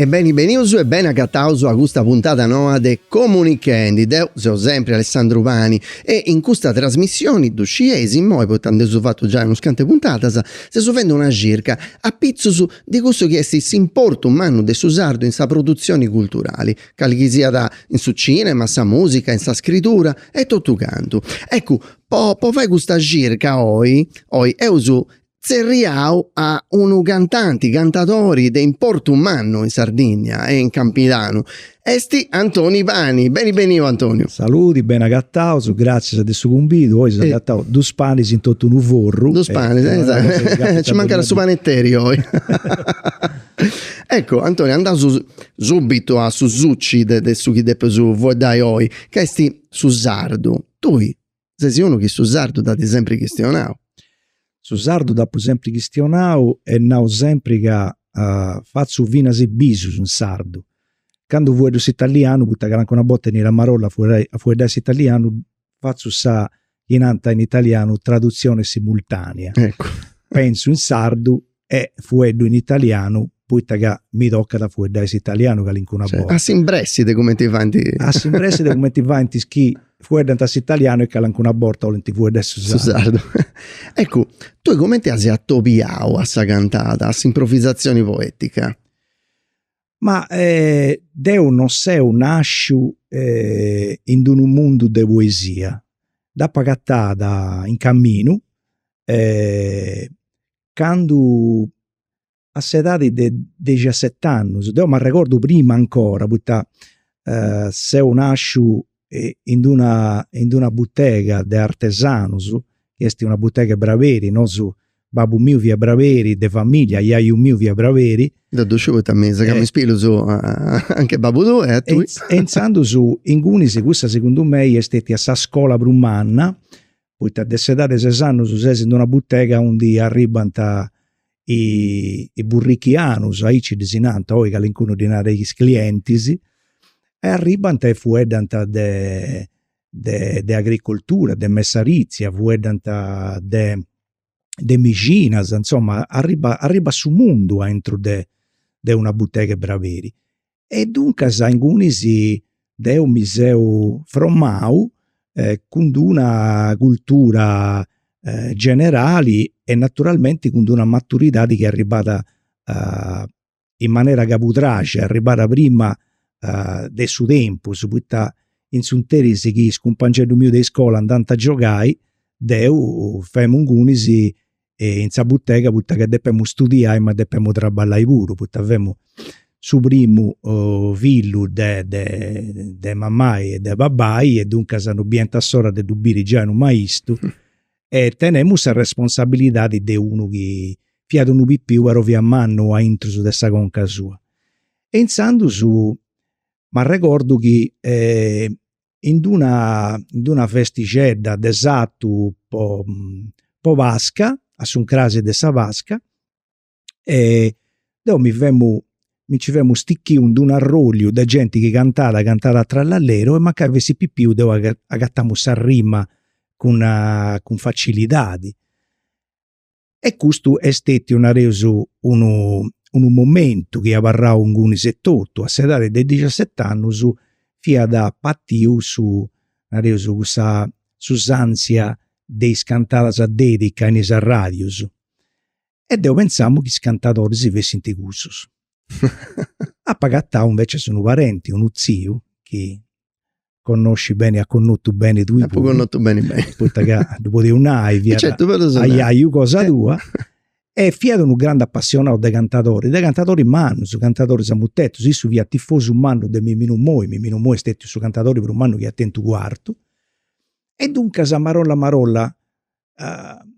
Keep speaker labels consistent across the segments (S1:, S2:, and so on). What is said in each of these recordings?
S1: E beni benius e beni agataus a custa puntada noa de Comunichendi. Deu seu sempri Alessandru Pani e in custa trasmissioni, ddu scieis immoi poita nd'eus fatu giai unas cantu 'e puntadas, seus fendi una circa, a pitzus, de cussu chi est s'importu mannu de su sardu in sa produtzioni culturali, cali chi siat in su cinema, sa musica, in sa scridura e totu cantu. Eccu, po po fai custa circa oi oi eus tzerriau a unu cantanti, cantadori de importu mannu in Sardìnnia e in Campidanu, est Antoni Pani. Beni beniu Antoniu. Saludi, beni
S2: agataus, gràtzias de su cumbidu, oi si seus agataus dus panis in totu unu forru. Dus
S1: panis, nci mancat su paneteri oi. Eccu Antoni, andaus subitu a su suci de su chi depeus fueddai oi, ca est su sardu. Tui Ses unu chi su sardu dd'at sempri chistionau.
S2: Su sardu dd'apu sempri chistionau e nau sempri ca fatzu finas is bisus in sardu. Candu fueddu s'italianu, poita ca calincuna borta 'enit a marolla a fueddai s'italianu, fatzu sa, chi nant in italianu, traduzione simultanea. Eccu.
S1: Pentzu in
S2: sardu e fueddu in italianu poita ca mi tocat a fueddai s'italianu calincuna borta. A s'imbressi de
S1: cumenti faint. A s'imbressi de
S2: cumenti faint is chi fueddant s'italianu e calincuna borta 'olint fueddai su sardu. Su sardu.
S1: Eccu, tui cumenti as atobiau a sa cantada, a s'improvvisatzioni
S2: poetica? Ma deu non seu nasciu in d'unu mundu de poesia. Dd'apu agatada in caminu candu a s'edadi de dexiaset'annus, deu m'arregordu prima ancora poita seu nasciu in d'una in d'una butega de artesanus, chi est una butega 'e braberi, nosu, babbu miu fiat braberi, de familia, jaju miu fiat braberi. Deu ddu sciu poita
S1: mi segàu is pilus anche babbu tuu e a tui. E intzandus
S2: ingunis cussa segundu mei est stetia sa scola prus manna poita de s'edadi 'e ses annus ses in una butega aundi arribbant is parrochianus, aici ddis nant, oi calincunu ddi narat is clientis, e arribbant e fueddant de de agricoltura, de messaritzia, fueddant de de mexinas, insoma, arribat arribat su mundu aintru de de una butega 'e braberi. E duncas ingunis deu mi seu formau cun d'una cultura generali e naturalmenti cun d'una maturidadi chi est arribada in manera cabudraxa e arribada prima de su tempus poita in s'interis chi is cumpangeddus mius de iscola andant a giogai deu femu ingunis in sa butega poita ca depemu studiai ma depemu traballai puru poita femu su primu fillu de de mamai e de babbai e duncas non biant s'ora de ddu biri giai unu maistu e tenemu sa responsabilidadi de unu chi fiat unu pipiu però fiat mannu aintrus de sa conca sua. E intzandus m'arregordu chi in d'una in d'una festixedda de sartu po po pasca, a su ncrasi de sa pasca, e deu mi femu, mi nci femu stichiu in d'unu arroliu de genti chi cantat, cantat a trallalleru e mancai fessit pipiu deu agatamu sa rima cun cun facilidadi. E custu est stetiu, nareus, unu unu momentu chi abarrau ingunis etotu, a s'edadi de dexiaset'annus fiat partiu su, nareus, cussa s'usantzia de is cantadas a dedica in is arradius e deu pentzàmu chi is cantadoris fessint cussus. Apu agatau invecias unu parenti, unu tziu, chi connoscis beni, as connotu beni tui puru. Apu connotu beni beni.
S1: Poita ca ddu
S2: podeus nai, fiat aiaiu cosa tua. E fiat unu grandu apassionau de cantadoris, de cantadoris mannus, cantadoris a mutetus, issu fiat tifosu mannu de Miminu Moi, Miminu Moi est stetiu su cantadori prus mannu chi at tentu Cuartu. E duncas, marolla marolla,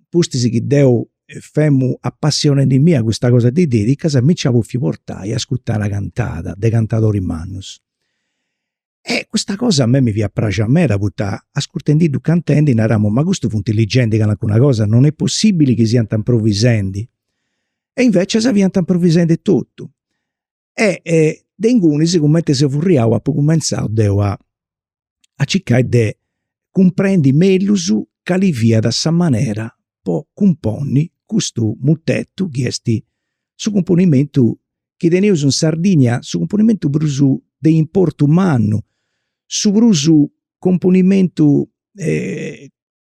S2: pustis chi deu femu apassionendimì a custa cosa de is dedicas mi nci at bofiu portai a ascurtai una cantada de cantadoris mannus e custa cosa a mei mi fiat praxia meda poita ascurtendiddus cantendi naramu ma custus funt ligendi calincuna cosa, non est possibili chi siant improvisendi e invecias fiant improvisendi totu e de ingunis cumenti seu furriau apu cumenzau deu a circai de cumprendi mellus cali fiat sa manera po cumponni custu mutetu chi esti su cumponimentu chi teneus in Sardigna, su cumponimentu prus de importu mannu, su prus cumponimentu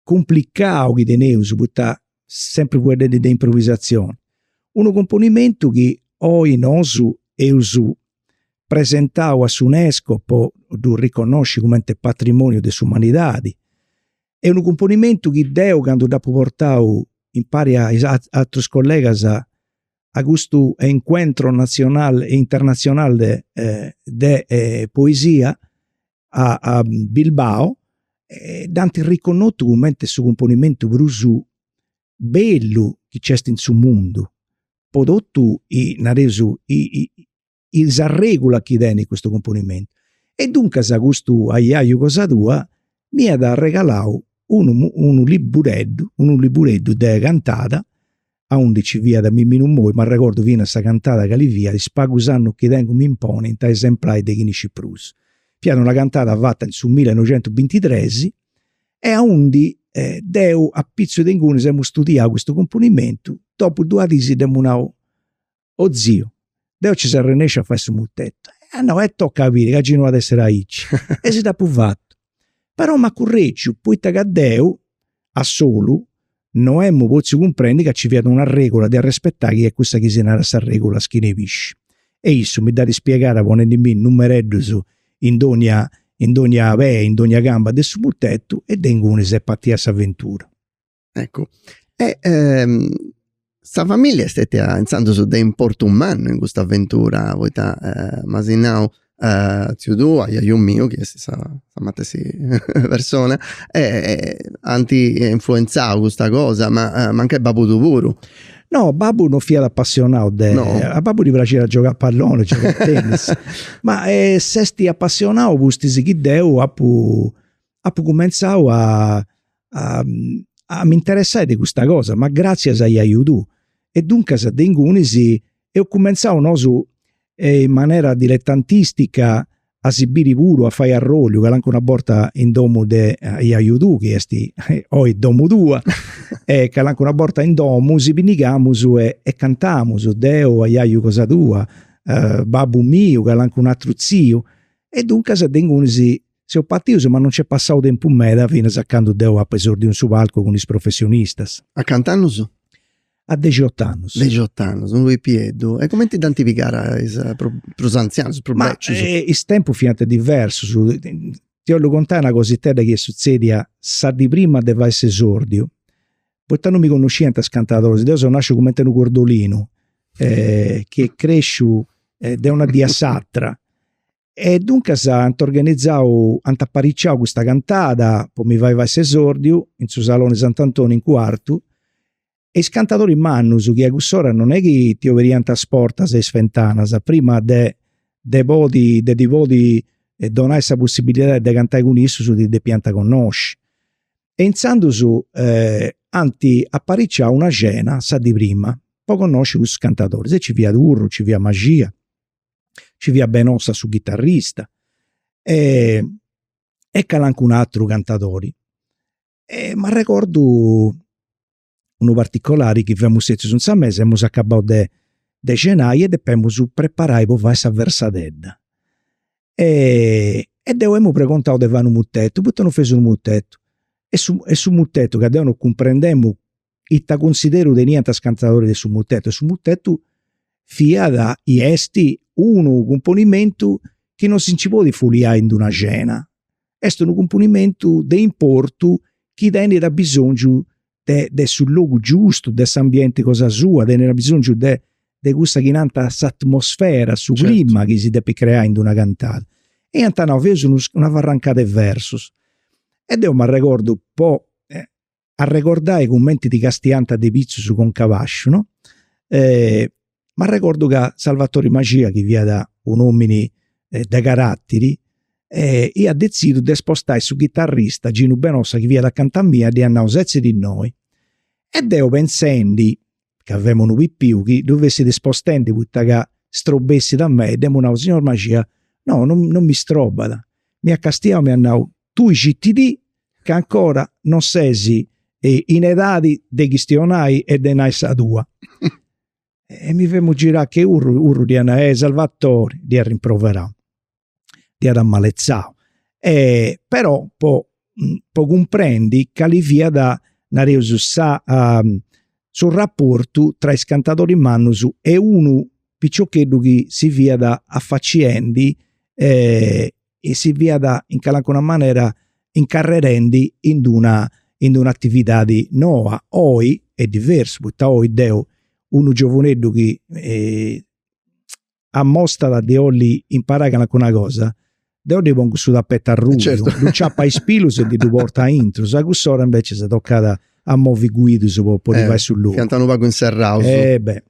S2: cumplicau chi teneus poita sempri fueddendi de improvisatzioni. Unu cumponimentu chi oi nosu eus presentau a s'UNESCO po ddu riconnosci cumenti patrimoniu de s'umanidadi. E unu cumponimentu chi deu candu dd'apu portau impari a is atrus collegas a custu encuentro nacional e internacional de poesia a, a Bilbao, e dd'ant riconnotu cumenti su cumponimentu prus bellu chi nc'est in su mundu, po totu, nareus, is arregulas chi tenit custu cumponimentu. E duncas custu ajaju cosa tua m'iat arregalau unu unu libureddu, unu libureddu de cantada aundi ci fiat Miminu Moi, m'arregordu finas sa cantada cali fiat Is pagus annus chi tengu m'imponint a esemplai de chini scit prus. Fiat una cantada fata in su millenoixentubintitres e aundi deu apitzus de ingunis emu studiau custu cumponimentu, dopu duas dis dd'emu nau O ziu, deu ci s'arrennesciu a fai su mutettu. Ah no, e tocca a biri ca gei no at essiri aici. E si dd'apu fatu. Però m'at curregiu, poita ca deu, a solu, no emu potziu cumprendi ca ci fiat una regula de arrespetai chi est cussa chi si narat sa regula schina 'e pisci. E issu mi dd'at ispiegada ponendimì numereddus in dogna in dogna pei, in dogna camba de su mutettu e de ingunis est patia s'aventura. Eccu,
S1: e sa familia est stetia intzandus de importu mannu in custa aventura poita m'as nau tziu tuu, ajaju miu, chi est sa matessi persona, ant influenzau custa cosa, ma mancai babbu tuu puru. No, babbu
S2: non fiat apassionau de, a babbu ddi praxiat giogai a palloni, giogai a tennis, ma s'est apassionau pustis chi deu apu apu cumenzau a a mi interessai de custa cosa, ma gratzias a ajaju tuu e duncas de ingunis eus cumenzau nosu in manera diletantistica a si biri puru, a fai arrolliu, calincuna borta in domu de ajaju tuu chi est oi domu tua e calincuna borta in domu si pinnigamus e cantamus, deu, ajaju cosa tua, babbu miu, calincunu ateru tziu e duncas de ingunis Seus patius ma non nc'est passau tempus meda finas a candu deu apu esordiu in su palcu cun is professionistas. A
S1: cant'annus?
S2: A dexiott'annus. Dexiott'annus, unu
S1: pipieddu. E cumenti dd'ant pigada is prus antzianus, is prus bècius? Ma is tempus
S2: fiant diversus. Ti 'ollu contai una cositedda chi est sutzèdia sa dì prima de fai s'esordiu. Poita non mi connosciant is cantadoris, deu seu nàsciu cumenti unu cordolinu chi est cresciu de una dì a s'atra E duncas ant organizau, ant apariciau custa cantada po mi fai fai s'esordiu in su Saloni de Sant'Antoni in Cuartu e is cantadoris mannus chi a cuss'ora non est chi ti oberiant is portas e is fentanas prima de de podi de ti podi donai sa possibilidadi de cantai cun issus ti depiant connosci. E intzandus ant apariciau una cena sa dì prima po connosci cussus cantadoris e ci fiat Urru, ci fiat Maxia Ci fiat Benossa su chitarrista e e calancunu ateru cantadori. E m'arregordu unu particolari chi femus setzius in sa mesa, emus acabau de de cenai e depemus preparai po fai sa versadedda. E deu emu pregontau de fai unu mutetu, poita non fais unu mutetu. E su e su mutetu ma deu non cumprendemu ita cunsideru teniant is cantadoris de su mutetu e su mutetu fiat e est unu cumponimentu chi non si nci podit fuliai in d'una cena, est unu cumponimentu de importu chi tenit abisongiu de de su logu giustu, de s'ambienti cosa sua, tenit abisongiu de de cussa chi nant s'atmosfera, su clima chi si depit
S1: creai
S2: in d'una cantada. E iant nau, feus una farrancada 'e versus. E deu m'arregordu po arregordai cumenti ti castiant de pitzus conca a basciu, no, e m'arregordu ca Salvatori Maxia chi fiat un'omini de caratiri e iat detzidiu de spostai su chitarrista Ginu Benossa chi fiat acanta mia e dd'iat nau setzi·ti innoi e deu pensendi ca femu unu pipiu chi ddu fessit spostendi poita ca strobessit a mei, dd'emu nau, signor Maxia, no no no mi strobat, m'iat castiau e m'iat nau, tui citi·ti ca 'ncora non ses in edadi de chistionai e de nai sa tua. E mi femu girau che Urru, Urru dd'iat nau, eh Salvatore, dd'iat rimproverau. dd'iat amaletzau e però po po cumprendi cali fiat, nareus, sa su raportu tra is cantadoris mannus e unu piciocheddu chi si fiat afaciendi e si fiat in calincuna manera incarrerendi in d'una in d'una atividadi noa, oi est diversu, poita oi deu unu giovuneddu chi ammostat de olli imparai calancuna cosa, deo ddi pongu su tapetu arrubiu, eh, certo. dd'aciapu a is
S1: pilus
S2: e ndi ddu portu aintrus, a cuss'ora invecias tocàt a movi guidus po podi eh, fai·sì logu. Fiant unu pagu
S1: inserraus. Eh beh.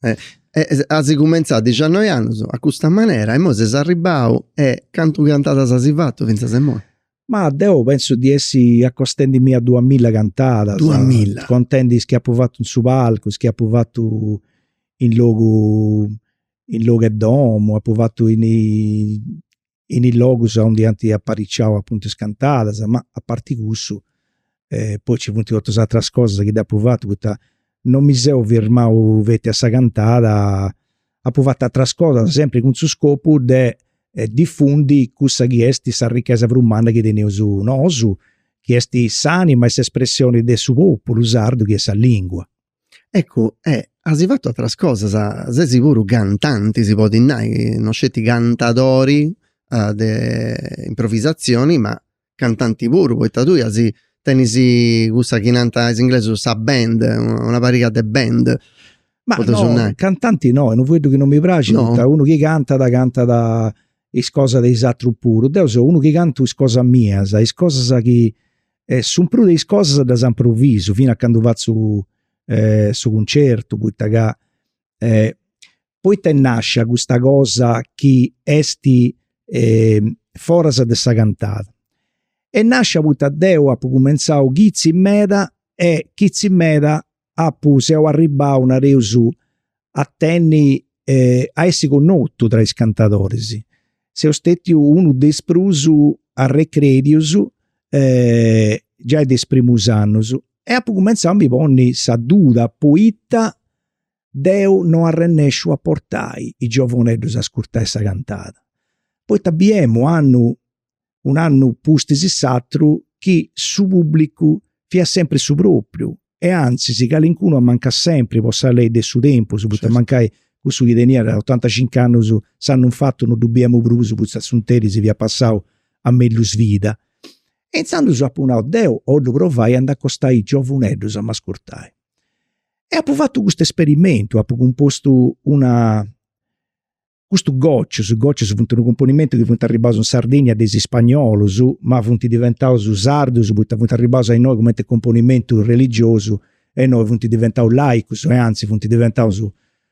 S1: Eh. E as cumenzau a dixannoi annus a custa manera e imoi ses arribau e cantu cantadas as fatu fintzas a imoi? Ma deu
S2: pentzu di essi acostendimi a duas milla cantadas, duas milla,
S1: contendi is chi apu fatu
S2: in su palcu, is chi apu fatu in logu in logu 'e domu, apu fatu in is logus aundi iant apariciau apuntu is cantadas, ma aparti cussu e poi ci funt totus is ateras cosas chi dd'apu fatu poita non mi seu firmau feti a sa cantada, apu fatu ateras cosas sempri cun su scopu de difundi cussa chi est s'arrichesa prus manna chi teneus nosu chi est s'anima e s'espressioni de su populu sardu chi est sa lingua.
S1: Ecu e as fatu ateras cosas, ses puru cantanti, si podit nai, non sceti cantadori de improvisazioni ma cantanti puru poita tui as tenis cussa chi nant is inglesus sa band, una pariga de band ma
S2: no cantanti no est unu fueddu chi non mi praxit poita unu chi cantat cantat is cosas de is atrus puru deu seu unu chi cantu is cosas mias is cosas chi su prus de is cosas ddas improvisu finas a candu fatzu su cuncertu poita ca eh, poita est nascia custa cosa chi est eh foras de sa cantada, est nascia poita deu apu cumenzau chizi meda e chizi meda apu seu arribau nareus a tenni eh a essi connotu tra is cantadoris, seu stetiu unu de is prus arrechèdius eh giai de is primus annus e apu cumenzau a mi ponni sa duda poita Deu no arrennesciu a portai is giovunedus a ascurtai sa cantada, poita biemu a un'annu pustis s'atru chi su pubblicu fiat sempri su propriu e antzis calincunu amancàt sempri po sa lei de su tempus, poita mancai cussu chi teniat otantacincu annus s'annu in fatu no ddu biemu prus poita s'interis fiat passau a mellus vida. E intzandus apu nau, deu 'ollu provai a nd'acostai is giovunedus a m'ascurtai. E apu fatu custu esperimentu, apu cumpostu una, custu gocius, gocius funt unu cumponimentu chi funt arribaus in Sardegna de is spagnolus, ma funt diventaus sardus poita funt arribaus a innoi cumenti cumponimentu religiosu e innoi funt diventaus laicus e antzis funt diventaus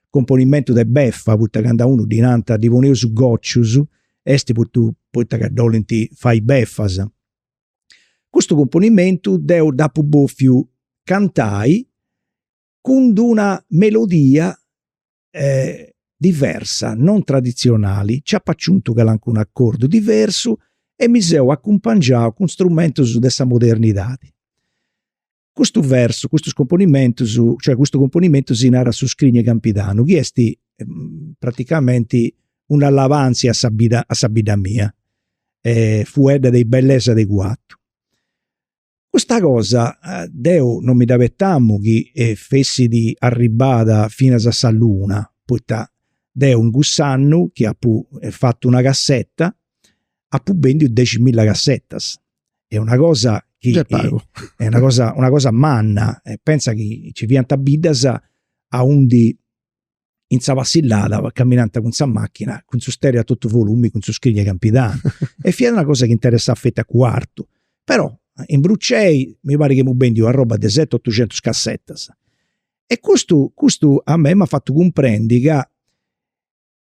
S2: cumponimentu de beffa poita candu a unu ddi nant ddi poneus gocius, est poita ca dd'olint fai beffas. Custu cumponimentu deu dd'apu bòfiu cantai cun d'una melodia diversa, non tradizionali, nci apu aciuntu calancunu acordu diversu e mi seu acumpangiau cun strumentus de sa modernidadi. Custu versu, custus componimentus, cioè custu componimentu si narat su scrignu 'e Campidanu chi est praticamenti una alabàntzia a sa bidda a sa bidda mia e fueddat de is bellesas de Cuartu. Custa cosa deu non mi dd'apetamu chi fessit arribbada finas a sa luna, poita deu in cuss'annu chi apu fatu una casseta apu bèndiu deximilla cassetas est una cosa chi est pagu. est una cosa una cosa manna e pensa chi ci fiant biddas a undi in sa passillada caminant cun sa machina cun su stereo a totu volumi cun su Scrignu Campidanu e fiat una cosa chi interessat feti a Cuartu però in Brucei mi parit chi amus bendiu arroba de seti otuxentus cassettas e custu custu a mei m'at fatu cumprendi ca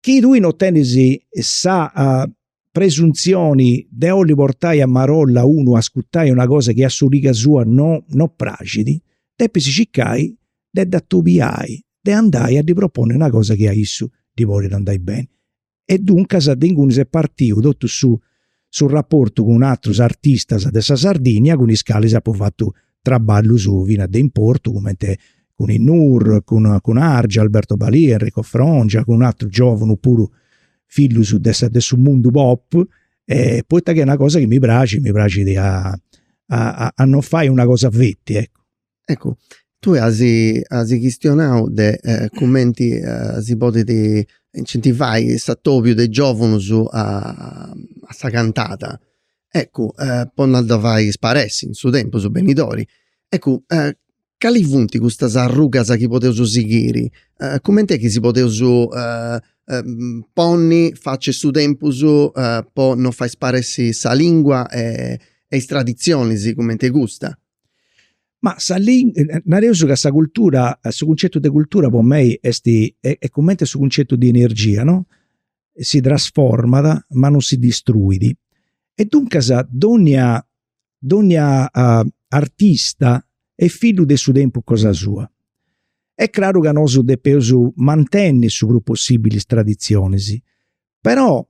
S2: Chi tui no tenis sa presuntzioni de 'olli portai a marolla unu a ascutai una cosa chi a s'origa sua no no praxit, depis circai de dd'atubiai, de andai a ddi proponni una cosa chi a issu ddi podit andai beni. E duncas de ingunis est partiu totu su su raportu cun atrus artistas de sa Sardìnnia cun is calis apu fatu traballus finas de importu cumenti cun is Nur, cun Argia, Alberto Balìa, Enrico Frongia, cun atrus giovunus puru fillus de sa de su mundu pop e poita ca est una cosa chi mi praxit, mi praxit a a a non fai una cosa feti, eccu
S1: Eccu, tue as as chistionau de cumenti si podit incentivai s'atobiu de is giovunus a sa cantada. Eccu, po no dda fai sparessi in su tempus benidori, eccu, cali funt custas arrugas chi podeus sighiri, cumenti est chi si podeus ponni facci a su tempus po no fai sparessi sa lingua e is traditzionis cumenti custa. Ma
S2: sa nareus ca sa cultura, su cuncettu de cultura po mei est est cumenti su cuncettu de energia no, si trasformat ma non si distruit, e duncas donnia donnia artista est fillu de su tempus cosa sua. Est craru ca nosu depeus mantenni su prus possibili is traditzionis, Però,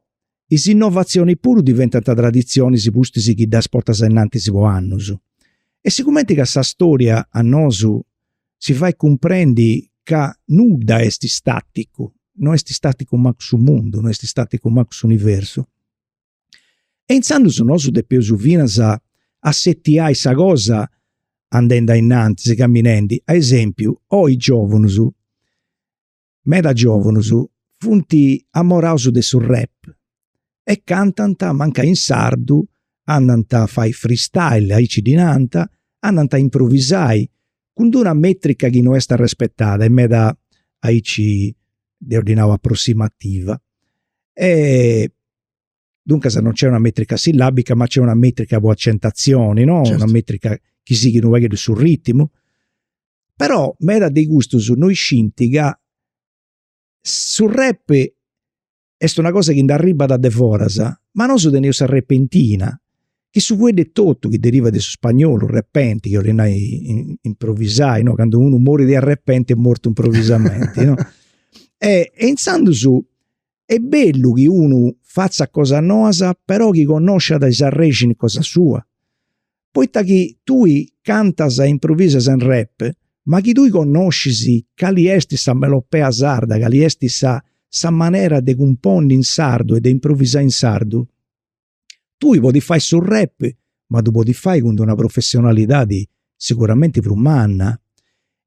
S2: is innovatzionis puru diventant traditzionis pustis chi ddas portas ainnantis po annus. E sigumenti ca sa storia a nosu si fait cumprendi ca nudda est staticu, no est staticu mancu su mundu, no est staticu mancu s'universu, e intzandus nosu depeus finas assetiai sa cosa andendi ainnantis, caminendi. A esempiu, is giovunus Meda giòvunus funt amoraus de su rap e cantant mancai in sardu, andant a fai freestyle, aici ddi nant, andant a improvisai cun d'una metrica chi no est arrespetada e meda aici deu ddi nau aprossimativa e Duncas non nc'est una metrica sillabica, ma nc'est una metrica po accentatzioni, no? Certo. Una metrica chi sighit unu pagheddu su rittimu. Però meda de custus no scinti ca su rap est una cosa chi nd'arribbat de foras, ma nosu teneus sa repentina, chi su fueddu etotu chi derivat de su spagnolu repente, chi 'olit nai improvisai, no? Candu unu morit de arrepenti est mortu improvisamenti, no? E intzandus Est bellu chi unu fatzat cosas noas però chi connosciat is arrexini cosa sua, poita chi tui cantas e improvisas in rap ma chi tui connoscis cali est sa melopea sarda, cali est sa sa manera de cumponni in sardu e de improvisai in sardu, Tui podis fai su rap ma ddu podis fai cun d'una professionalidadi siguramenti prus manna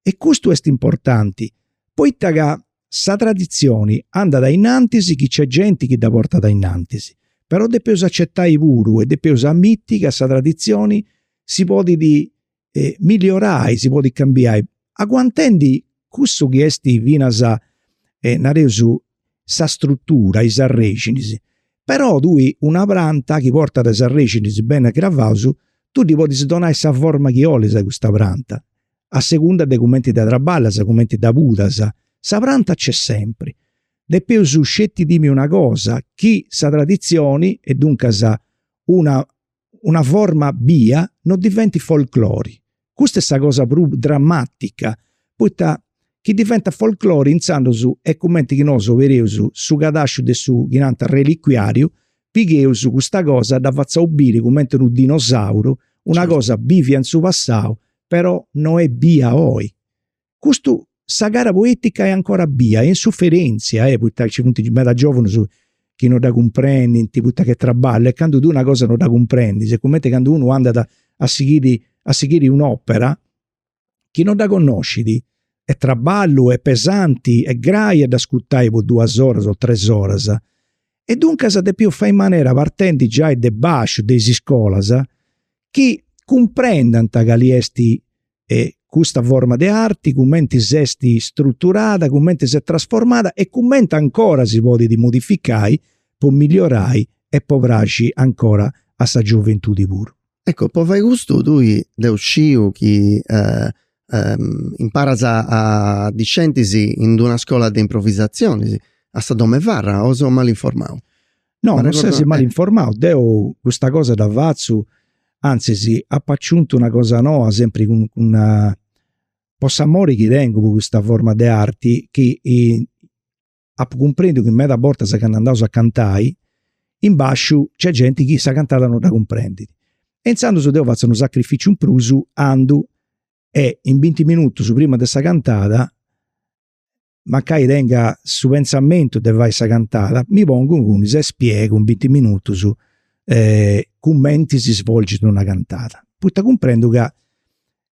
S2: e custu est importanti poita ca sa traditzioni andat a innantis chi nc'est genti chi dda portat a innantis, però depeus acetai puru e depeus amiti ca sa traditzioni si podit milliorai, si podit cambiai, aguantendi cussu chi est, is finas nareus, sa strutura, is arrexinis, però tui una pranta chi portat is arrexinis beni cravaus, tui ddi podis donai sa forma chi 'olis a custa pranta, a segunda de cumenti dda traballas, cumenti dda pudas, sa pranta nc'est sempri. Depeus sceti timi una cosa, chi sa traditzioni e duncas una una forma bia no diventit folklore. Custa est sa cosa prus dramatica, poita chi diventat folklore intzandus est cumenti chi nosu obereus su cadasciu de su chi nant reliquiariu, pigheus custa cosa dda fatzaus biri cumenti unu dinosauru, una cosa bivia in su passau però no est bia oi. Custu sa gara poetica est ancora bia, est in suferentzia e poita ci funt meda giovunus chi no dda cumprendint poita ca est traballu e candu tui una cosa no dda cumprendis est cumenti candu unu andat a sighiri a sighiri un'opera chi no dda connoscit, est traballu, est pesanti, est grai a dd'ascurtai po duas oras o tres oras. E duncas depeus fai in manera partendi giai de basciu de is iscolas chi cumprendant cali est e custa forma de arti cumenti s'est struturada, cumenti s'est trasformada e cumenti ancora si podit modificai po milliorai e po praxi ancora a sa gioventudi puru. Eccu, po fai
S1: custu tui deu sciu chi imparas a discentis in d'una scola de improvisazionis a sa Domefarra o seu malu informau? No, non ses
S2: mal informau, deu custa cosa dda fatzu, anzis apu aciuntu una cosa noa sempri cun, cun una... po s'amori chi tengu po custa forma di arti chi eh, apu cumprendiu ca medas bortas candu andaus a cantai in basciu nc'est genti chi sa cantada no dda cumprendit e intzandus deu fatzu unu sacrificiu in prus andu e in binti minutus prima de sa cantada mancai tenga su pentzamentu de fai sa cantada, mi pongu ingunis e spiegu in binti minutus cumenti si svolgit una cantada, poita cumprendu ca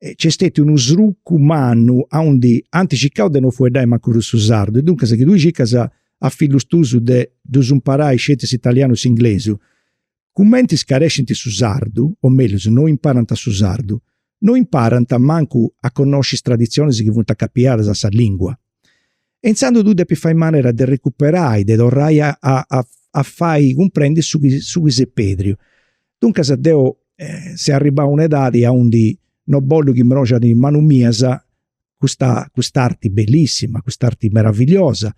S2: nc'est stetiu unu srucu mannu aundi ant circau de non fueddai mancu prus su sardu e duncas chi tui circas a fillus tuus de ddus imparai sceti s'italianu e s'inglesu, Cumenti scarescint su sardu, o mellus no imparant su sardu, no imparant mancu a connosci is traditzionis chi funt acapiadas a sa lìngua. E intzandus tui depis fai manera de recuperai, de torrai a a a fai cumprendi su chi su chi s'est pedriu. Duncas deu seu arribau a una edadi aundi no bollu chi mroxat in manus mias custa, custa arti bellissima, custa arti meravigliosa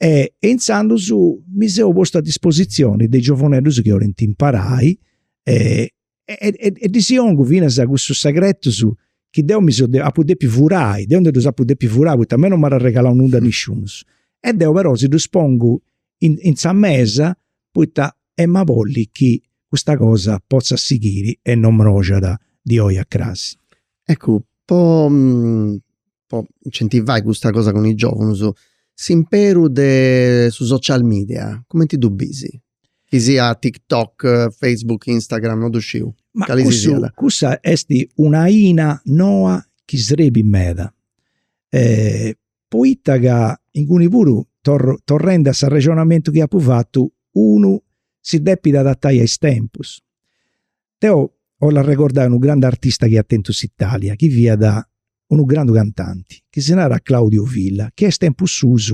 S2: e e intzandus mi seu postu a disposizioni de giovuneddus chi 'olint imparai e e ddis 'ongu finas cussus segretus chi deu mi seu apu depiu furai, deu ndi ddus apu depiu furai poita a mei non m'at arregalau nudda nisciunus e deu però si ddus pongu in in sa mesa poita em'a bolli chi custa cosa potzat sighiri e non mroxat di oi a cras. Eccu,
S1: po po incentivai custa cosa cun is giovunus, s'imperu de su social media cumenti ddu bisi? Chi sia tiktok, facebook, instagram, no ddu sciu, cali si siat. Ma cussu,
S2: cussa esti una aina noa chi srebit meda, poita ca inguni puru torru torrendi a s'arrexonamentu chi apu fatu, unu si depit adatai a is tempus. Deu 'ollu arregordai unu grandu artista chi at tentu s'Italia, chi fiat unu grandu cantanti, chi si narat Claudio Villa, chi a is tempus suus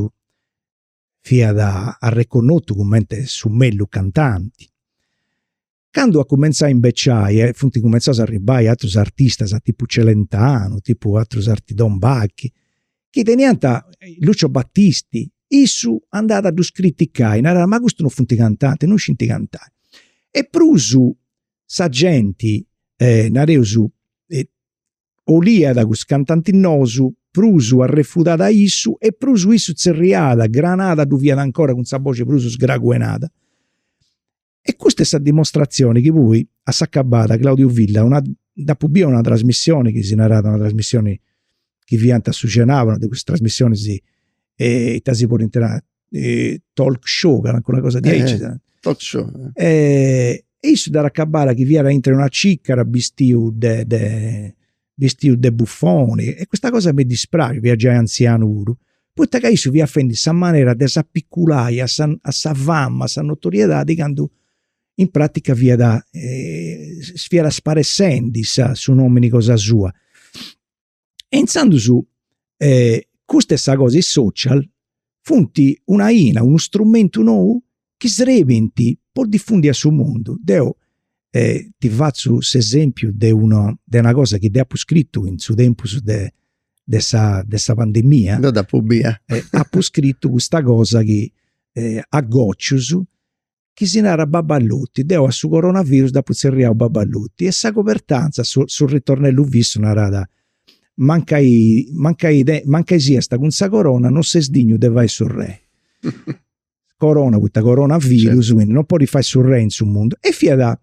S2: fiat arreconnotu cumenti su mellus cantanti. Candu at cumenzau a imbeciai e funt cumenzausu a arribbai atrus artistas tipu Celentano, tipu atrus arti Don Backy, chi teniant Lucio Battisti, issu andàt a ddus criticai, narat ma custus non funt cantantis, non scint cantai. E prus sa genti, nareus, 'oliat cussus cantantis nous, prus arrefudàt a issu e prus issu tzerriàt, Granada ddu fiat ancora cun sa boxi prus sgraguenada E custa est sa dimostratzioni chi poi, a s'acabada, Claudio Villa una, dd'apu bia una trasmissioni chi si narat una trasmissioni chi fiant, chi cenànt, de custas trasmissionis ita si podint nai, talk show, calincuna cosa diaici, talk show, e issu dd'at acabada chi fiat aintru 'e una cìcara bistiu de bistiu de buffoni e custa cosa m'est dispraxiu, fiat giai anzianu puru, poita ca issu fiat fendu sa manera de s'apiculai a sa fama, a sa notoriedadi candu in pratica fiat fiat sparessendi sa su nomini cosa sua. E inzandus custa est sa cosa is social funt una 'ina, unu strumentu nou chi srebint po difundi a su mundu, deu ti fatzu s'esempiu de una de una cosa chi deu apu scritu in su tempus de de sa de sa pandemia. Dd'apu bia.
S1: Apu scritu
S2: custa cosa chi a gocius chi si narat baballoti, deu a su coronavirus dd'apu tzerriau baballoti e sa cobertantza, su su ritornellu fissu narat, mancai mancai mancai siast cun sa corona non ses dignu de fai su rei. corona poita coronavirus quindi non podit fai su rei in su mundu e fiat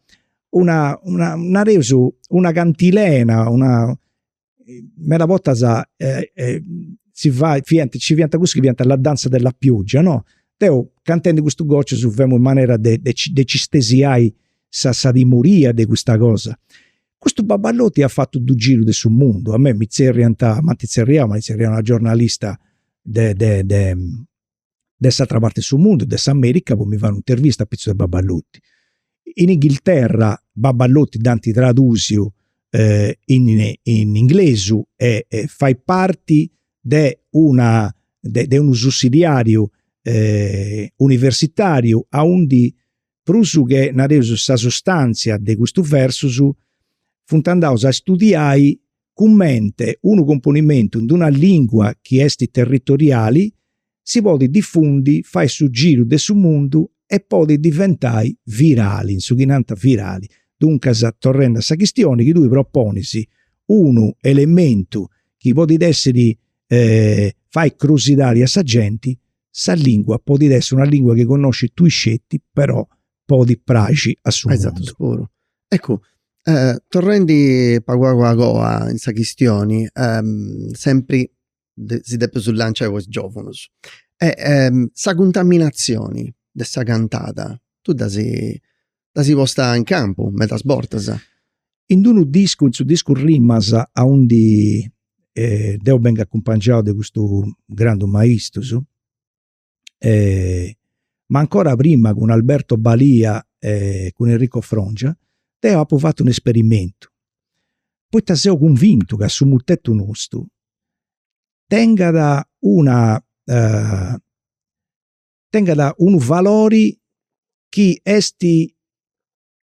S2: una una nareus una cantilena una meda bortas si fait fiant nci fiant cussus chi fiant la danza della pioggia no deu cantendi custu gocciu ddu femu in manera de de de ci stesiai sa sa timoria de custa cosa. Custu baballotti at fatu su giru de su mundu, a mei mi zerriant, m'ant zerriau, m'at zerriau una giornalista de de de de s'atra parte de su mundu, de s'America po mi fai un'intervista a pitzus de Babballoti. In Inghilterra Babballoti dd'ant tradusiu eh in in inglesu e e fait parti de una de de unu sussidiariu eh universitariu aundi prus che nareus sa sustantzia de custus versus funt andaus a studiai cummente unu componimentu in una lìngua chi est territoriali si podit difundi, fai su giru de su mundu e podit diventai virali, issus chi nant virali. Duncas, torrendi a sa chistioni chi tui proponis, unu elementu chi podit essi fai crusidadi a sa genti, sa lìngua podit essi una lìngua chi connoscit tui sceti però podit
S1: praxi
S2: a su mundu. Eccu,
S1: torrendi pagu pagu a goa in sa chistioni, sempri si depus lanciai po is giòvunus, sa cuntaminatzioni de sa cantada, tui dd'asi posta in campu medas bortas. In
S2: d'unu discu, in su discu Rimas, aundi deu bengu acumpangiau de custus grandus maistrus, ma ancora prima cun Alberto Balia e cun Enrico Frongia, deu apu fatu un'esperimentu, poita seu cunvintu ca su mutetu nostru tengat una tengat unu valori chi est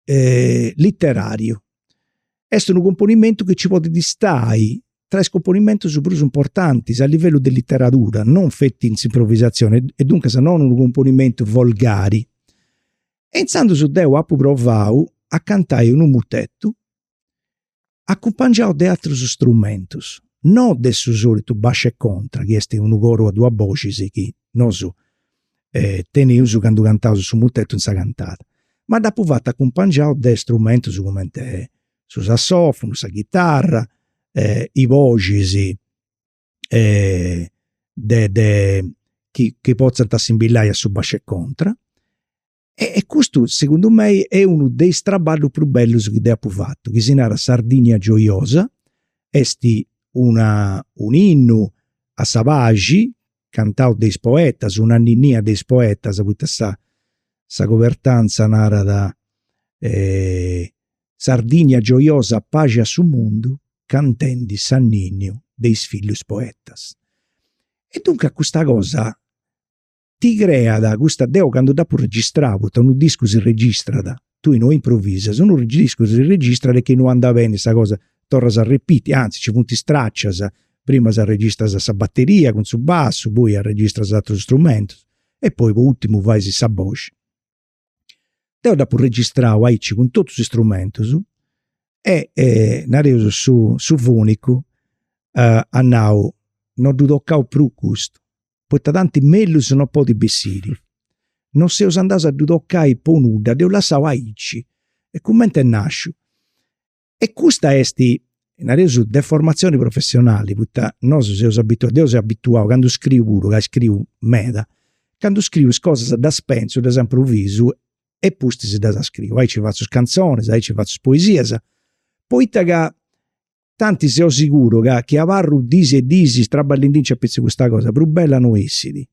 S2: literàriu, est unu cumponimentu chi nci podit stai tra is cumponimentus prus importantis a livellu de literadura, non feti in s'improvisatzioni e duncas non unu cumponimentu volgari. E intzandus deu apu provau a cantai unu mutetu acumpangiau de atrus strumentus, no de su solitu basciu e contra chi est unu coru a duas boxis chi nosu teneus candu cantaus su mutetu in sa cantada, ma dd'apu fatu acumpangiau de strumentus cumenti su sassofunu, sa chitarra, is boxis de de chi potzant assimbilai a su basciu e contra E, e custu, segundu mei, est unu de is traballus prus bellus chi deu apu fatu, chi si narat Sardinia gioiosa, est una, un'innu a sa paxi, cantau de is poetas, un'anninnia de is poetas, poita sa sa cobertantza narat Sardinia gioiosa paxi a su mundu, cantendi s'anninniu de is fillus poetas. E duncas custa cosa ti creat custa, deu candu dd'apu registrau, poita unu discu si registrat, tui no improvisas, unu discu si registrat chi no andat beni sa cosa torras a arrepiti, antzis nci funt is tracias, prima arregistras sa bateria cun su bassu, poi arregistras aterus strumentus e poi po ùrtimu fais sa boxi. Deu dd'apu registrau aici cun totus is strumentus e nareus su su fonicu at nau, no ddu tocaus prus custu, poita tanti mellus no podit bessiri. Non seus andaus a ddu tocai po nudda, dd'eus lassau aici a cumenti est nasciu. E custa est, nareus, deformatzioni professionali, poita nosu seus abituaus, deu seu abituau, candu scriu puru, ca scriu meda, candu scriu is cosas ddas pentzu, ddas improvisu e pustis ddas scriu, aici fatzu is cantzonis, aici fatzu is poesias, poita ca tanti seu siguru ca chi abarru dis e dis traballendinci apitzus custa cosa prus bella no essit.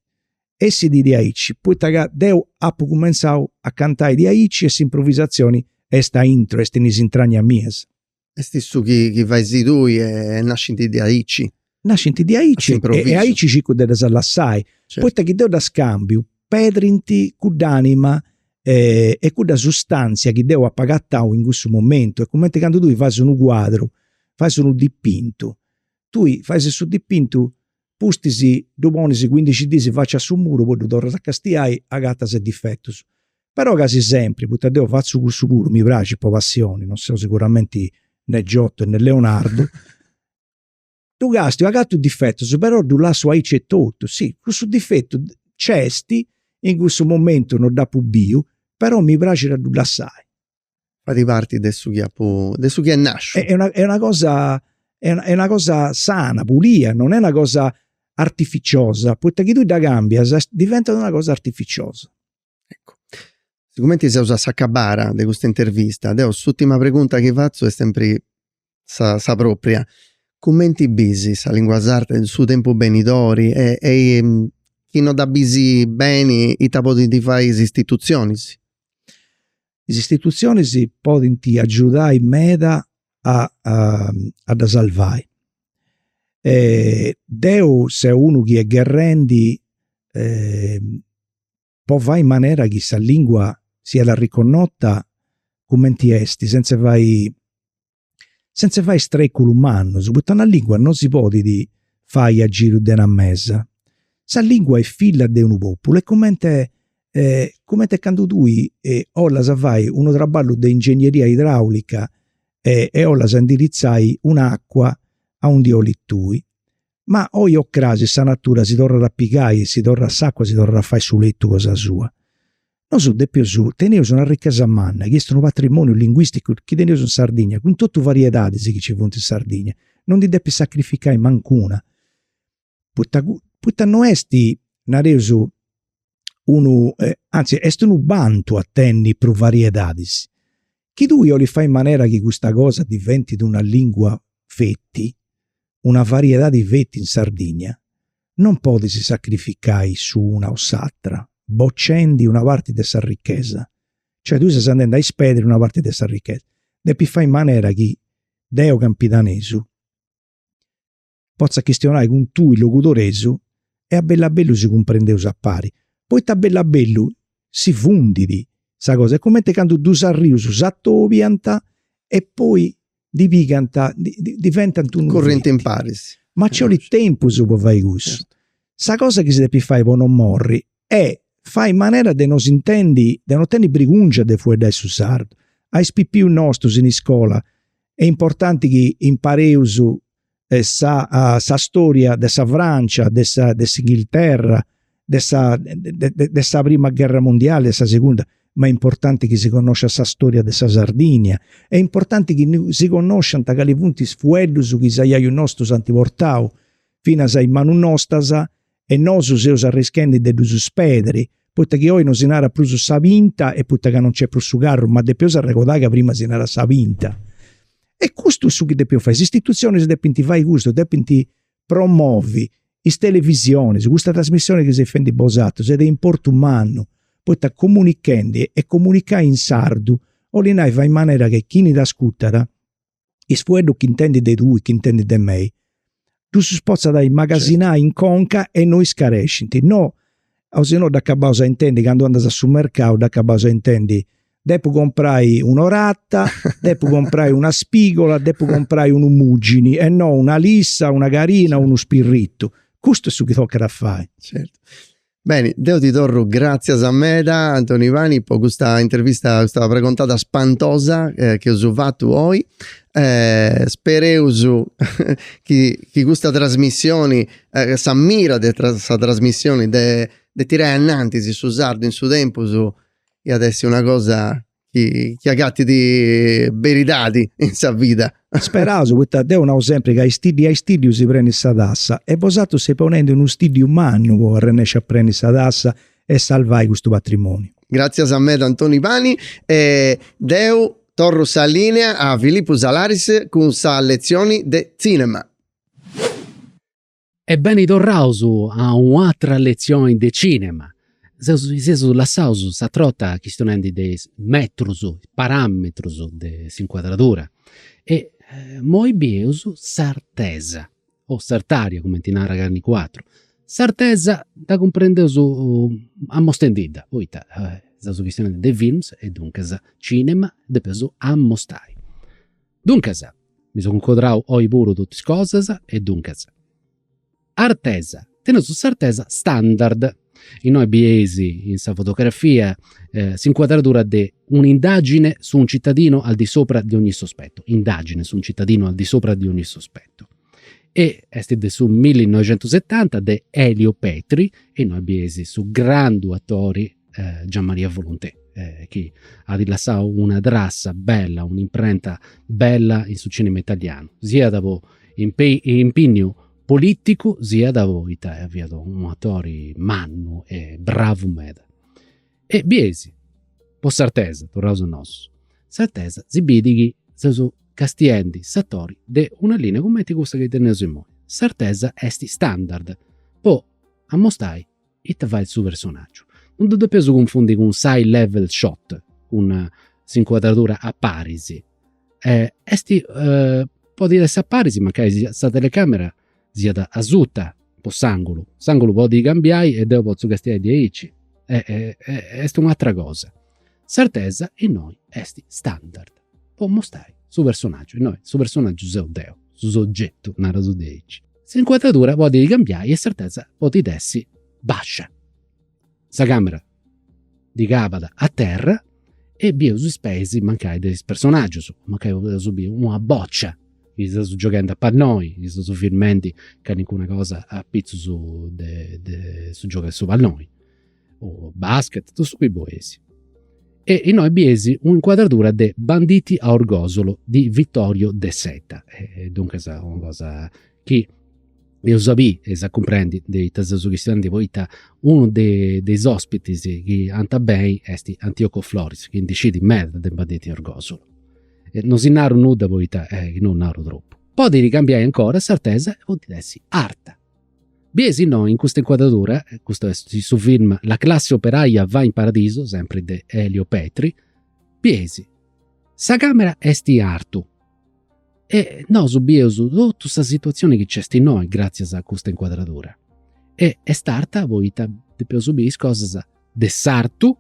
S2: essit diaici, poita ca deu apu cumentzau a cantai diaici e s'impruvisatzioni est a intro, est in is intragnas mias. Est
S1: su chi fais tui e nascint diaici. Nascint diaici
S2: e aici circu de ddas lassai, poita chi deu ddas cambiu, pedrint cudd'anima e cudda sustantzia chi deu apu agatau in cussu momentu, est cumenti candu tui fais unu cuadru, fais unu dipintu, tui fais su dipintu pustis ddu ponis cuindixi dìsi faci a su muru poi ddu torras a castiai agatas is difetus. Però casi sempri, poita deu fatzu cussu puru, mi praxit po passioni, non seu siguramenti ne Giotto e ne Leonardo, ddu castiu, agatu is difetus però ddu lassu aici etotu, si, cussu difetu nc'est, in cussu momentu non dd'apu biu, però mi praxit a ddu lassai.
S1: Fait parti de su chi apu, de su chi est nasciu. Est una est una
S2: cosa est una cosa sana, pulia, non est una cosa artificiosa, poita chi tui dda cambias diventat una cosa artificiosa.
S1: Eccu. Sigumenti seus a s'acabara de custa intervista, deu s'urtima pregunta chi fatzu est sempri sa sa propria. Cumenti bisi sa lingua sarda in su tempu benidori e e chi no dda bisi beni ita podinti fai is istitutzionisi?
S2: Is istitutzionisi podinti agiudai meda a a dda sarvai. Deu seu unu chi est gherrendi po fai manera chi sa lingua siat arriconnota cumenti est sentze fai sentze fai streculus mannus poita una lingua non si podit fai a giru de una mesa. Sa lingua est filla de unu populu e cumenti e cumenti candu tui 'olas fai unu traballu de ingegneria idraulica e 'olas indiritzai un'acua aundi 'olit tui Ma oi o crasi sa natura si torrat a pigai, si torrat s'acua, si torrat a fai su letu cosa sua. Nosu depius, teneus una ricchesa manna chi est unu patrimoniu linguisticu chi teneus in Sardigna, cun totu variedadis chi ci funt in Sardigna, non ndi depis sacrificai mancuna, poita poita no est, nareus, unu, anzi est unu bantu a tenni prus variedadis. Chi tui 'olis fai in manera chi custa cosa diventit una lingua feti, una variedadi feti in Sardigna, non podis sacrificai su una o s'atra, boccendi una parti de sa ricchesa. Cioè tui ses andendi a sperdiri una parti de sa ricchesa. Depis fai in manera chi deu campidanesu potza chistionai cun tui logudoresu e a bellu a bellu si cumprendeus a pari, poita a bellu a bellu si fundit sa cosa, est cumenti candu dus arrius s'atobiant e poi diventant unu, currint imparis,
S1: ma ci 'olit
S2: tempus po fai cussu, sa cosa chi si depit fai po no morri E fai manera de no s'intendi, de no tenni brigùngia de fueddai su sardu a is pipius nostus. In iscola est importanti chi impareus sa sa storia de sa Francia, de sa de s'Inghilterra, de sa de sa prima gherra mundiali, de sa segunda, ma est importanti chi si connosciat sa storia de sa Sardigna, est importanti chi si connosciant cali funt is fueddus chi is aiaius nostus ant portau finas a is manus nostas e nosu seus arrischendi de ddus sperdiri, poita chi oi no si narat prus sa pinta e poita ca no nc'est prus su carru, ma depeus arregodai ca prima si naràt sa pinta. E custu est su chi depeus fai, is istitutzionis depint fai custu, depint promovi is televisionis, custa trasmissioni chi seis fendi bosatrus est de importu mannu, poita comunichendi e comunicai in sardu, 'olit nai, fai in manera chi chini t'ascutat is fueddus chi intendit de tui, chi intendit de mei, ddus potzat imagasinai in conca e no iscarescint, no, o si no dd'acabaus a intendi candu andas a su mercau, dd'acabaus a intendi, depu comporai un'orata, depu comporai una spigola, depu comporai unu mugini e no una lissa, una carina o unu spirritu. Custu est su chi tocat a fai.
S1: Beni, deu ti torru gràtzias meda Antoni Pani po custa intervista, custa pregontada spantosa chi eus fatu oi. Spereus chi chi custa trasmissioni, sa mira de sa trasmissioni de de tirai a anantis su sardu in su tempus iat essi una cosa chi, chi agatit beridadi in sa vida. Speraus,
S2: poita deu nau sempri ca a istiddiu a istiddiu si prenit sa tassa e bosatrus seis ponendi unu stiddiu mannu po arrennesci a preni sa tassa e salvai custu patrimoniu. Gratzias
S1: meda Antoni Pani e deu torru sa linea a Filippu Salaris cun sa letzioni de tzinema.
S3: E beni torraus a un'atra letzioni de cinema. Seus seus lassaus s'atr'orta chistionendi de is metrus, parametrus de s'incuadradura. E moi bieus s'artesa, o s'artaria cumenti narat calincun'atru. S'artesa dda cumprendeus amostendidda, poita seus chistionendi de films e duncas cinema depeus amostai. Duncas mi so cuncodrau oi puru totu is cosas e duncas. Artesa, teneus s'artesa standard, innoi bieis in sa fotografia s'incuadradura de un'indagine su un cittadino al di sopra di ogni sospetto, indagine su un cittadino al di sopra di ogni sospetto. E est de su millinoixentusetanta de Elio Petri e innoi bieis su grandu atori eh, Gian Maria Volonté, eh, chi at lassau una trassa bella, un'imprenta bella in su cinema italianu, siat po impignu politicu, siat poita eh, fiat un atori mannu e bravu meda. E bieis, po s'artesa, torraus a nosu, s'artesa si bit chi seus castiendi s'atori de una linea cumenti cussa chi teneus imoi. S'artesa est standard po amostai ita fait su personaggiu? Non ddu depeus cunfundi cun s'eye level shot, cun s'incuadradura a paris. Est, podit essi a paris mancai siat, sa telecamera siat asuta po s'angulu, s'angulu podit cambiai e deu potzu castiai diaici. Est un'atera cosa S'artesa innoi est standard po mostrai su personaggiu, innoi su personaggiu seu deu, su soggettu, naraus diaici. S'incuadradura podit cambiai e s'artesa podit essi bascia. Sa camera de cabat a terra e bieus is peis mancai de is personaggius, mancai podeus biri una boccia chi seus gioghendi a palloni, chi seus firmendi calincuna cosa apitzus de su giogu de su palloni o basket, totu su chi boleis. E innoi bieis un'incuadradura de Banditi a Orgosolo di Vittorio De Seta. E duncas una cosa chi eus a biri, eus a cumprendi de ita seus chistionendi, poita unu de, de is ospitis chi ant a benni est Antioco Floris, chi ndi scit meda de Banditi a Orgosolo. E non si naru nudda poita, chi no naru tropu. Podit cambiai ancora s'artesa e podit essi arta. Bieis innoi, in custa incuadradura, custu est su film La classe operaia va in paradiso, sempri de Elio Petri, bieis, sa camera est in artu e nosu bieus totu sa situazioni chi nc'est innoi gratzias a custa incuadradura e est arta poita depeus biri is cosas de s'artu,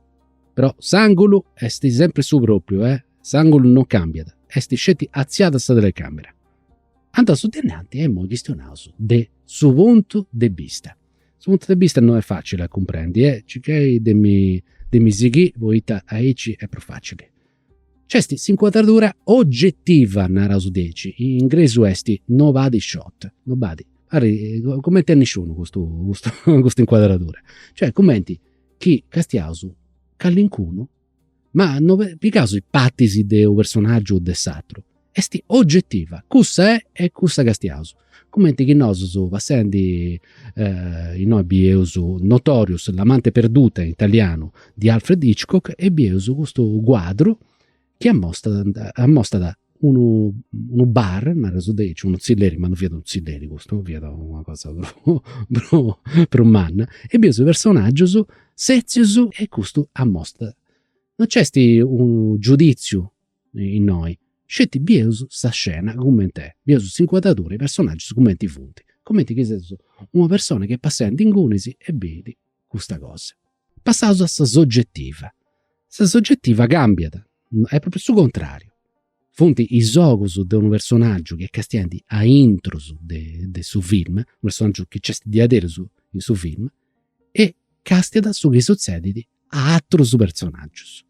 S3: però s'angulu est sempri su propriu, s'angulu non cambiat, est sceti atziada sa telecamera Andaus a su de innanti e imoi chistionaus de su puntu de bista. Su puntu de bista no est facili a cumprendi e circais de mi de mi sighì poita aici est prus facili. Nc'est s'incuadradura ogettiva, naraus diaici, in ingresu est nobody shot, nobody, cumenti a nisciunu custu custu custa incuadradura. Cioè cumenti chi castiaus callincunu Ma no pigaus is partis de unu personaggiu o de s'atru. Est ogetiva, cussa est e cussa castiaus. Cumenti chi nosus, passendi, innoi bieus Notorious, l'amante perduta in italianu, de Alfred Hitchcock e bieus custu cuadru chi amostat, unu unu bar, nareus dei, aici unu tzilleri, ma non fiat unu tzilleri custu, fiat una cosa prus prus manna, e bieus is personaggius setzius e custu amosta. Non nc'est unu giuditziu innoi, sceti bieus sa scena cumenti est, bieus s'incuadradura e is personaggius cumenti funt, cumenti chi seus una persona chi est passendi ingunis e bit custa cosa. Passaus a sa sogetiva. Sa sogetiva cambiat, est propriu su contrariu. Funt is ogus de unu personaggiu chi est castiandi aintrus de su film, unu personaggiu chi nc'est diaderus in su film, e castiat su chi sutzedit a atrus personaggius.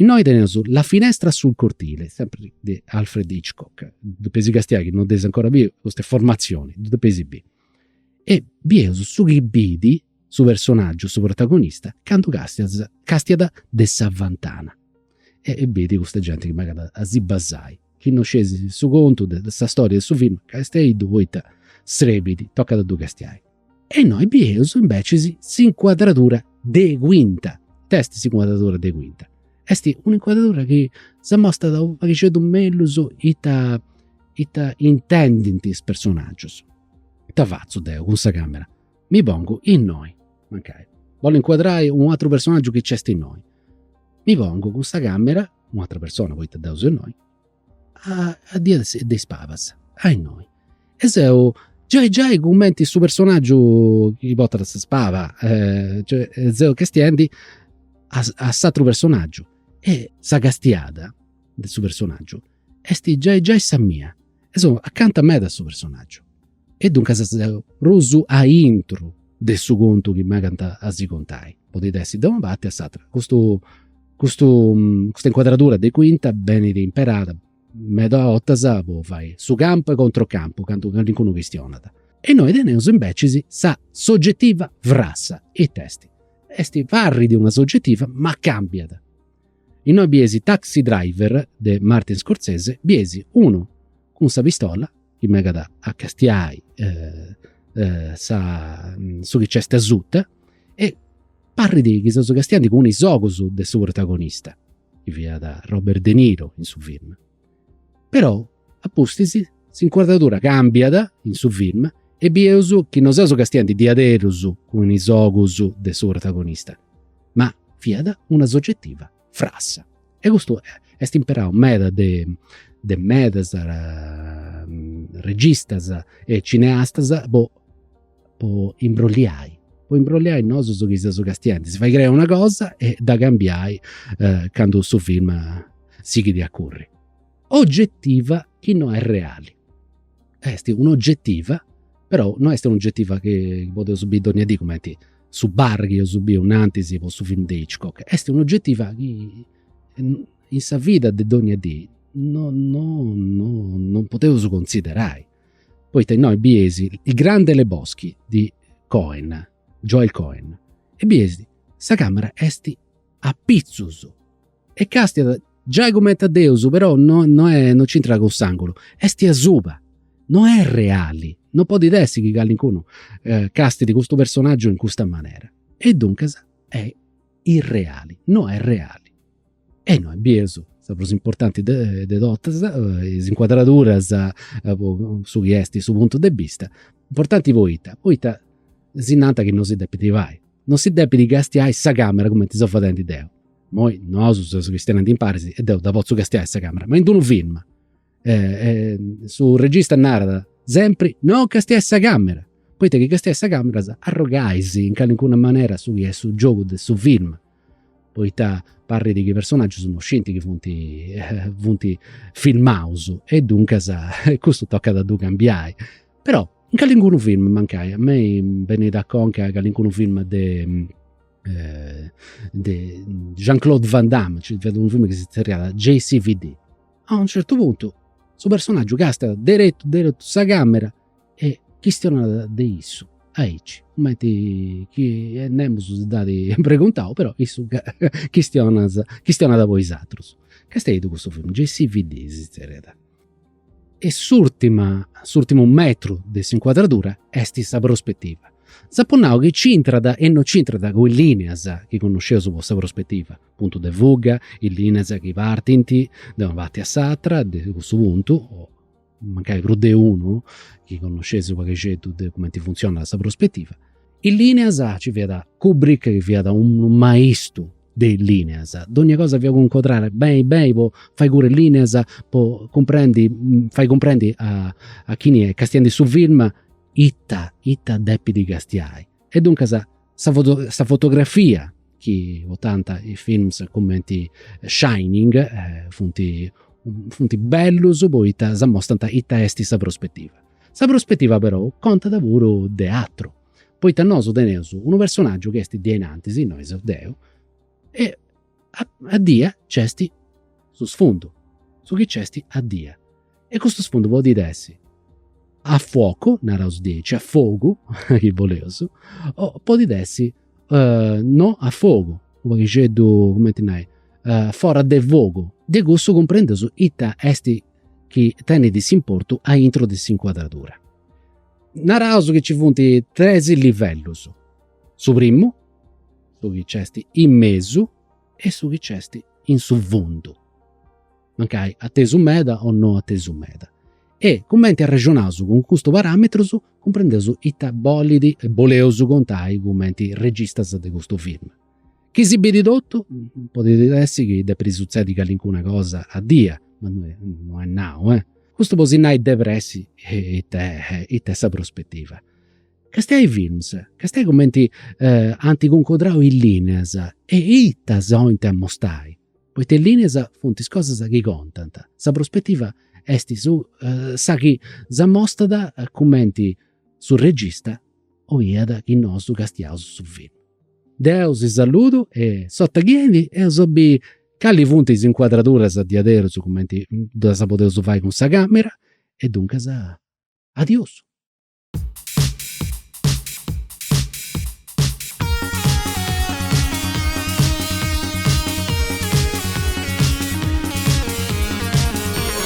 S3: Innoi teneus La finestra sul cortile, sempri de Alfred Hitchcock, ddu depeis castiai si non dd'eis ancora biu, custa est formatzioni, ddu depeis biri. E bieus su chi bit su personaggiu, su protagonista, candu castiat castiat de sa fentana e bit custa genti chi megat a si basai, chi non scieis su contu de sa storia de su film castiai-ddu poita srebit, tocat a ddu castiai. E noi bieus invece s'incuadradura de quinta. It'est s'incuadradura de quinta. Est un'incuadradura chi s'amostat u' paghixeddu mellus ita ita intendint is personaggius. Ita fatzu deu cun sa camera? Mi pongu innoi, mancai, bollu incuadrai u' atru personaggiu chi nc'est innoi. Mi pongu cun sa camera, u' atra persona poita deu seu innoi, a diasus de is pabas, a innoi. E seu giai giai cumenti su personaggiu chi portat sa paba, cioè seu castiendi a s'atru personaggiu. E sa castiada de su personaggiu est giai giai sa mia e seu acanta meda a su personaggiu. E duncas seu prus a intro de su contu chi megant a si contai, podit essi de una parti o a s'atera. Custu custu custa incuadradura de quinta benit imperada meda bortas po fai su campu e controcampu, candu calincunu chistionat. E innoi teneus invecis sa sogetiva frassa, it'est? Est parri de una sogetiva ma cambiat. Innoi bieis Taxi Driver de Martin Scorsese, bieis unu cun sa pistola chi megat a castiai sa su chi nc'est asuta e parrit chi seus castiandi cun is ogus de su protagonista, chi fiat Robert de Niro in su film. Però a pustis s'incuadradura càmbiat in su film e bieus chi non seus castiandi diaderus cun is ogus de su protagonista, ma fiat una sogetiva frassa. E custu est imperau meda de de medas registas e cineastas po po imbrolliai, po imbrolliai nosus chi seus castiendis, si fai crei una cosa e dda cambiai candu su film sighit a curri. Ogetiva chi no est reali. Est un'ogetiva, però no est un'ogetiva chi podeus biri dònnia dì cumenti su chi eus biu nantis po su film de Hitchcock, est un'ogetiva chi in sa vida de dogna dì no no no non podeus considerai, poita innoi bies Il grande Lebowski de Coen, Joel Coen, e bies sa càmera est apitzus E castiat, giai cumenti a Deus, però no, no, è, no c'intrat cun s'àngulu, est asuba, no est reali, no podit essi chi calincunu eh, castit custu personàgiu in custa manera. E duncas è irreali, no est reali. E innoi bieus sa prus importanti de, de totas, eh, is incuadraduras, eh, po su chi est su puntu de bista, importanti poita, poita si nant chi no si depit fai, no si depit castiai sa camera cumenti seu fadendi deu, Imoi nosu seus chistionendi imparis e deu dda potzu castiai sa camera, ma in d'unu film su regista narat sempri, non castiai sa camera, poita chi castiai sa camera arrogais in calincuna manera su chi est su giogu de su film, poita parrit chi is personaggius non scinti chi funt funt filmaus e duncas custu tocat a ddu cambiai. Però in calincunu film mancai, a mei benit a conca calincunu film de eh, de Jean-Claude Van Damme, ci fiat unu film chi si zerriat JCVD. A un certu puntu su personaggiu càstiat deretu deretu sa camera e chistionat de issu aici, cumenti chi e nemus si dd'at preguntau, però issu chistionas chistionat po is atrus. Castiai-ddu custu film, JCVD si zerriat E s'ùrtima, s'ùrtimu metru de s'incuadradura est sa prospetiva. S'apu nau chi c'intrat e no c'intrat cun is lìneas chi connosceus po sa prospetiva, puntu de fuga, is lìneas chi partint de una parti a s'atra de cussu puntu, o mancai prus de unu, chi connosceis u' paghixeddu de cumenti funtzionat sa prospetiva Is lineas ci fiat Kubrick chi fiat unu maistu de is lineas, dogna cosa fiat cun incuadrada beni beni po fai curri is lineas po cumprendi fai cumprendi a a chini est castiendu su film ita ita depit castiai. E duncas sa foto sa fotografia chi portant is films cumenti Shining funt funt bellus poita s'amostant ita est sa prospettiva. Sa prospetiva perou contat puru de atru, poita nosu teneus unu personaggiu chi est dienantis, innoi seu deu, e a dia nc'est su sfundu, su chi nc'est a dia. E custu sfundu podit essi a fuocu, naraus diaici, a fogu, chi 'oleus, o podit essi no a fogu, u' paghixeddu, cumenti nai, fora de fogu. De cussu cumprendeus ita est chi tenit s'importu a intro de s'incuadradura. Naraus chi ci funt tres livellus, su primu, su chi nc'est in mesu e su chi nc'est in su fundu, mancai atesu meda o no atesu meda. E cumenti arrexonaus cun custus paràmetrus cumprendeus ita bolit e ita boleus contai cumenti registas de custu film. Chi si bidit totu, podit essi chi depit sutzedi calincuna cosa a dia, ma no est nau, eh. Custu po si nai de pressi ita est sa prospetiva. Castiai films, castiai cumenti ant cuncordau is lineas e ita s'oint amostai, poita is lineas funt is cosas chi contant, sa prospetiva est su sa chi s'amostat cumenti su regista oiat chi nosu castiaus su filmu. Deu si saludu e s'ota chi enit eus a bi cali funt is incuadraduras diaderus cumenti ddas podeus fai cun sa camera e duncas adiossu.